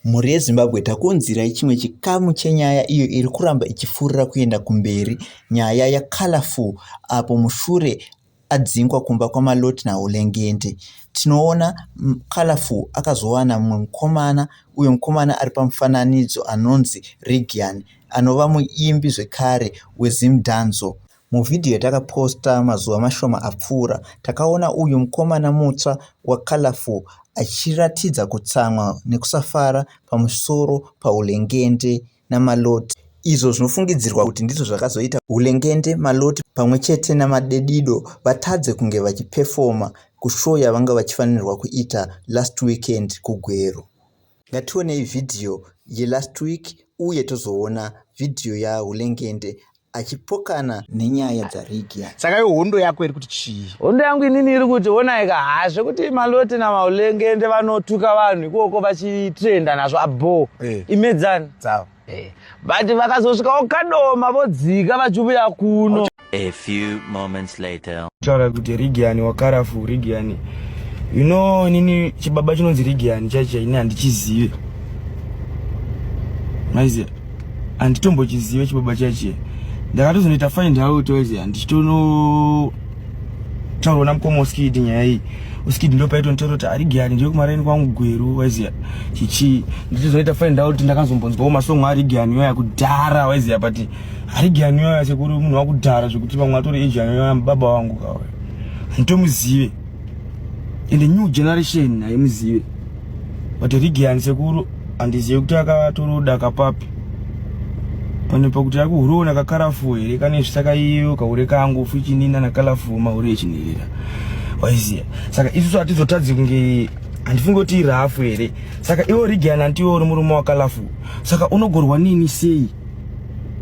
Mhuri yeZimbabwe takuunzirai chimwe chikamu chenyaya iyo iri kuramba ichifurira kuenda kumberi, nyaya yaColorful apo mushure adzingwa kumba kwaMaloti naHolengende. Tinoona Colorful akazowana mumwe mukomana uyo mukomana ari pamufananidzo anonzi Reagian anova muimbi zvekare weZimdanzo. Muvhidhiyo yatakaposta mazuva mashoma apfuura, takaona uyu mukomana mutsva waColourful achiratidza kutsamwa nekusafara pamusoro paHulengende naMalloti, izvo zvinofungidzirwa kuti ndizvo zvakazoita Hulengende, Malloti pamwe chete naMadedido vatadze kunge vachipefoma kushow yavanga vachifanirwa kuita last weekend kuGweru. Ngationei vhidhiyo yelast week uye tozoona vhidhiyo yaHulengende achipokana nenyaya dzaRigia. Saka iwe hondo yako iri kuti chii? Hondo yangu inini iri kuti honai ka haa zvekuti Malote naMahulengende vanotuka vanhu ikoko vachitrenda nazvo abhoo. Eh. Imedzani. Dzavo. Eh, but vakazosvikawo kadoma vodzika vachiuya kuno a few moments later taura kuti rigiani wakarafu rigiani you know inini chibaba chinonzi rigiani chaicho ini handichizive maiziva handitombochizive chibaba chaichiye ndakatozonoita find out oziva ndichitono taurwa namukoma uskidi nyaya iyi uskidi ndo paito nditaura kuti ari giyani ndiri kumaraini kwangu gweru waiziya chichii ndichizoita find out ndakazombonzwawo masongo ari giyani yoya kudhara waiziya but ari giyani yoya sekuri munhu wakudhara zvekuti vamwe atori ejiyani yoya mubaba wangu kawaya handitomuzive and the new generation haimuzive but rigian sekuru handizive kuti akatoroda kapapi pane pakuti akuhuroona kakarafu here kane zvisaka iyo kahure kangu fuchinina nakalafu mahure echinirira waiziya saka isusu hatizotadzi kunge handifunge kuti irafu here saka iwo rigian hantiwo uri murume wakalafu saka unogorwa nini sei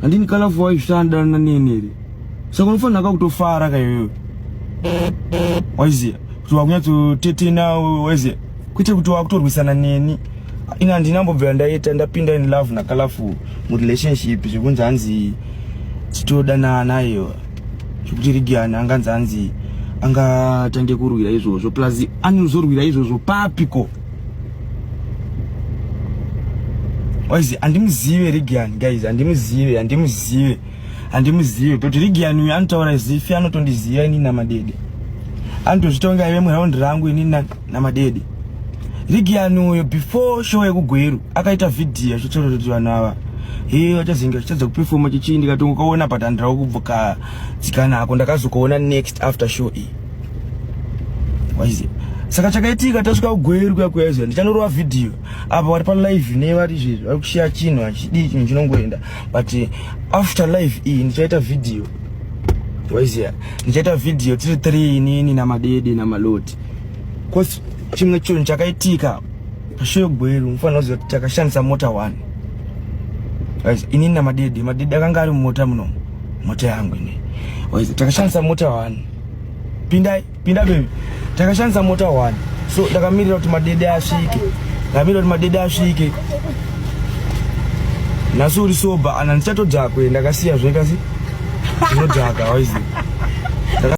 handini kana fuwa izvisandanana neni here saka unofanira ka kutofara ka iwewe waiziva kuti wakunyatsotetena waiziva kwete kuti wakutorwisana neni ini handina mbobvira ndaita ndapinda in love nakalafu murelationship zvekunzi hanzi titodanana iyo zvekuti rigiani anganzi hanzi angatange kurwira izvozvo plus anozorwira izvozvo papiko waizi andimuzive rigian guys andimuzive andimuzive andimuzive but rigian uyu anotaura zifi anotondiziva ini namadede anotozvitonga ive muraundi rangu ini namadede rigian uyo before show yekugweru akaita vhidhiyo achitorototi vanhu ava hee vachazinga zvichadza kupefoma chichii ndikatongokaona but handirawo kubvukadzikana ako ndakazokuona next after show iyi waiziva saka chakaitika tasvika kugweru kuya kuya izvo ndichanorova vhidhiyo apa wari palive ne vari izvezvi vari kushiya chinhu hachidii chinhu chinongoenda but eh, after live iyi ndichaita vhidhiyo waiziva ndichaita vhidhiyo tiri three inini namadede namaloti bcause chimwe chinhu chakaitika pashoyo gweru mufanira kuziva kuti takashandisa mota one inini namadede madede akanga ari mumota muno mota yangu ine takashandisa mota one pindai pinda bebi takashandisa mota one so ndakamirira kuti madede asvike ndamirira kuti madede asvike nhasi uri soba ana ndichatodhakwe ndakasiya zvekasi ndinodhaka waiziva